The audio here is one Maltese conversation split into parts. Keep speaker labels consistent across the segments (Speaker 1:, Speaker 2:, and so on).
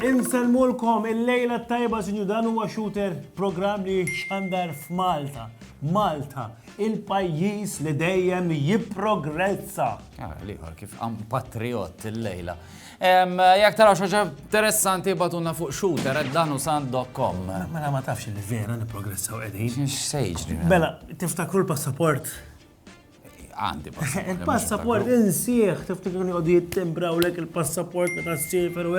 Speaker 1: Insellmulkom il-lejla t-tajba sinju dan huwa shooter programm li xandar f'Malta. Malta, il-pajjiż li dejjem jipprogrezza. Għara liħor kif għam patriot il-lejla. Jekk taraw xaġa interessanti batunna fuq shooter at danusant.com. Mela ma tafx li vera niprogressaw qegħdin. X'sejġri. Mela, tiftakru l-passaport? Għandi passaport. Il-passaport insieħ, tiftakru jgħodu jittimbraw lek il-passaport meta s-siefer u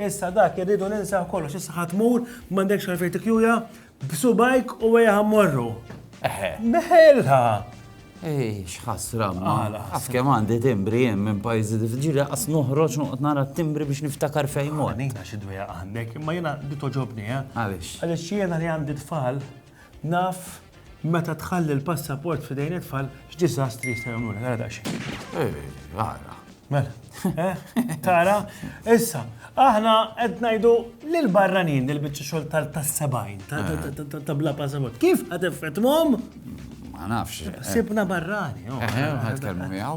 Speaker 1: Issa dak irridu ninsaħ kollox, issa ħatmur, mandek xalfej tikjuja, B'subajk u wejha morru. Eħe. Neħelha! Ej, xħasra, ma. Għaf kem għandi timbri jem minn pajzi diffiċili, għas noħroġ noqgħod nara timbri biex niftakar fejn mod. Għanina xi dwejja għandek, imma jiena di toġobni, eh? Għaliex. Għaliex jiena li għandi tfal, naf meta tħalli l-passaport f'idejn it-tfal, x'diżastri jista' jagħmlu għara daqsxejn. Ej, għara. Mela, eh, tara, issa, aħna qed ngħidu lil barranin il biċċa xogħol tal-70 ta' bla pasaport. Kif qed effettmhom? Ma nafx. Eh. Sibna barrani. Oh. Eh, eh, ħad kelmu miegħu.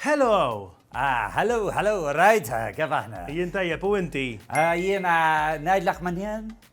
Speaker 1: Hello! Ah, hello, hello, right, kif aħna? Jien tajjeb u inti? Ah, jiena ngħidlek manjen?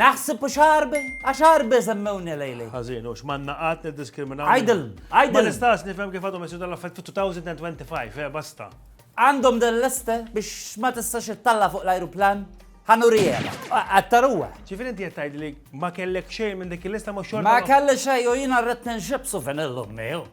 Speaker 1: Naħseb u xarbi, a xarbi semmewni lejli. Ħażin, u x'mgħandna qatt niddiskriminaw lil. Idle, idle. Ma nistax nifhem kif għadhom isiru dawn l-affarijiet fit-2025, eh basta. Għandhom din l-lista biex ma tistax ittalla' fuq l-ajruplan? Ħa nurihelek. Qed tara wieħed. Ġifieri inti qed tgħidli li ma kellek xejn minn dik il-lista mhux xorta. Ma kelli xejn u jiena rrid ninxibsu f'din il-lummi.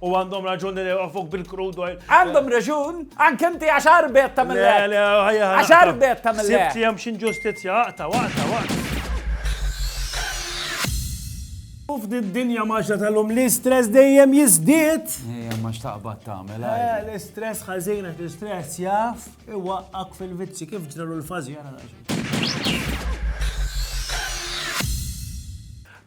Speaker 1: U għandhom raġun li jwafuk bil-crude oil. Għandhom raġun, anke inti għax arbet ta' mill Għax arbet ta' mill Sibt jem xin ġustizja, għaqta, waqta, waqta. Uf din dinja maġda tal-lum li stress dejjem jizdiet. Ejja, maġ taqbad tagħmel. Eh, l-istress ħażina, l-istress jaf, iwaqqak fil-vizzi kif ġralu l-fazi għana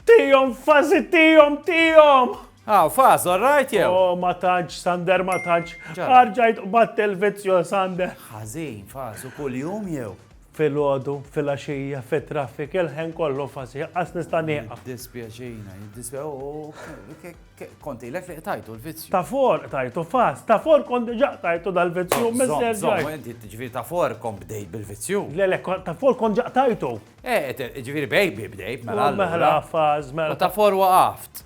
Speaker 1: Tijom, fazi tijom, tijom! Aw, faz, all right jew? Oh, ma tantx, Sander, ma tantx. Arġajt qbatt il-vizzju, Sander. Ħażin, faz, u kull jum jew? Fil-ħodu, fil-axija, fil-traffik, il-ħen kollu fazi, għas nista nieqaf. Dispjaċina, dispjaċina, konti l-ek li tajtu l-vizzju. Ta' for tajtu fas, ta' for konti ġaq tajtu dal-vizzju, mister ġaj. Inti ġviri ta' for kon bdej bil-vizzju. Le, le, ta' for kon ġaq tajtu. Eh, ġviri baby bdej, mela. Mela faz, mela. Ta' for waqaft.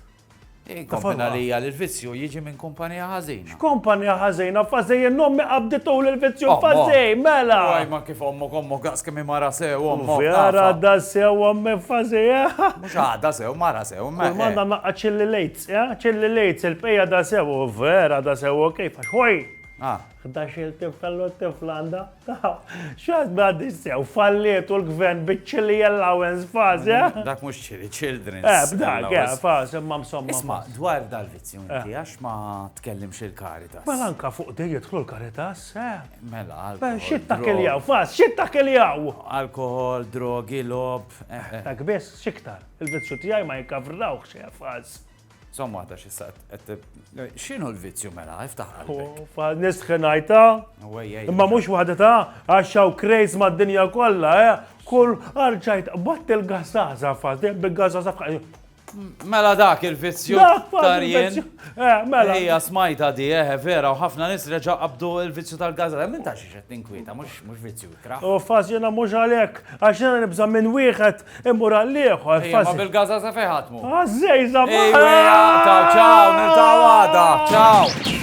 Speaker 1: Inkompina li hija l-vizzju jiġi minn kumpanija ħażina. X'kumpanija ħażina fażej jien ommi qabditu l-vizzju fażej, mela. Għaj ma kif ommu kommu għas kemm mara sew ommu. Vera da sew ommi fażej. Eh? Mhux għada sew mara sew ma. Mela. Manda eh. naqqa ċilli lejts, eh? ċilli lejts il-pejja da sew, vera da sew kif. Xoj! Ah. Ħdax-il tifel u tifla għandha. X'għad ma għaddix sew, falliet u l-gvern biċ-chili allowance faz, eh? Dak mhux chili, children. Eh, b'dak, eh, faz, imma msomma. Isma, dwar dal-vizzju eh. inti għax ma tkellimx il-Caritas. Mela anka fuq dej jidħlu l-Caritas, eh? Mela, alkohol. Xitta keljaw, faz, xitta keljaw! Alkohol, drogi, lob. Eh, dak biss, xiktar. Il-vizzju tiegħi ma jikkavrawx, eh, faz. Zom waħda xi saqt. X'inhu l-vizzju mela, iftaħ qalbek. Fa nistħenajta. Imma mhux waħda ta' għaxxaw krejs mad-dinja kollha, eh? Kull arġajt qbatt il-gasaza fa' bi gasaza fa' Mela dak il-vizzju tarjen. Eh, mela. Ija smajta di, eh, vera, u ħafna nis reġa qabdu il-vizzju tal-gaza. Minn ta' xiex qed tinkwieta, mhux vizzju. U faz jena mux għalek, għax jena nibza minn wieħed imur għall-ieħor. Faz bil-gaza se fejħatmu. Għazzej, zabba. Ciao, ciao, nil-tawada, ciao.